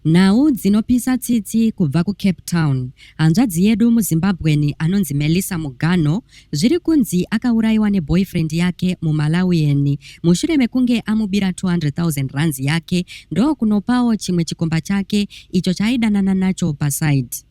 Nhau dzinopisa tsitsi kubva kuCape Town. Hanzvadzi yedu muZimbabwean anonzi Melissa Muganho zviri kunzi akaurayiwa neboyfriend yake muMalawian mushure mekunge amubira 200,000 rands yake ndokunopawo chimwe chikomba chake icho chaaidanana nacho paside.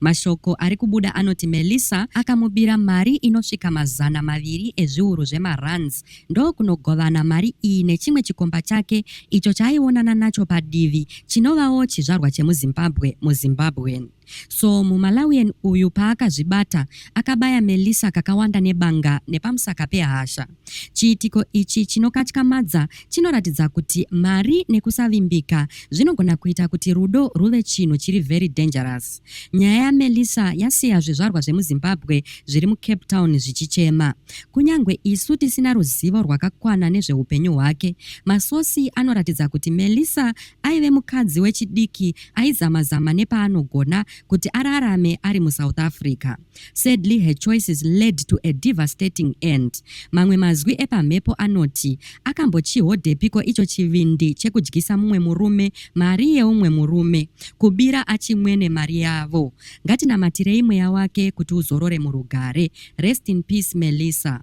Mashoko ari kubuda anoti Melissa akamubira mari inosvika mazana maviri ezviuru zvemarands ndokunogovana mari iyi nechimwe chikomba chake icho chaaionana nacho padivi chinovawo chizvarwa chemuzimbabwe muzimbabwean so mumalawian uyu paakazvibata akabaya Melissa kakawanda nebanga nepamusaka pehasha Chiitiko ichi chinokatyamadza chinoratidza kuti mari nekusavimbika zvinogona kuita kuti rudo rwuve chinhu chiri very dangerous. Nyaya yaMelissa yasiya zvizvarwa zvemuZimbabwe zviri muCape Town zvichichema. Kunyange isu tisina ruzivo rwakakwana nezveupenyu hwake, masosi anoratidza kuti Melissa aive mukadzi wechidiki aizama-zama nepaanogona kuti ararame ari muSouth Africa. Sadly her choices led to a devastating end. Mamwe mazwi epamhepo anoti akambochihodepiko icho chivindi chekudyisa mumwe murume mari yeumwe murume, kubira achimwene mari yavo. Ngatinamatirei mweya wake kuti uzorore murugare. Rest in peace Melissa.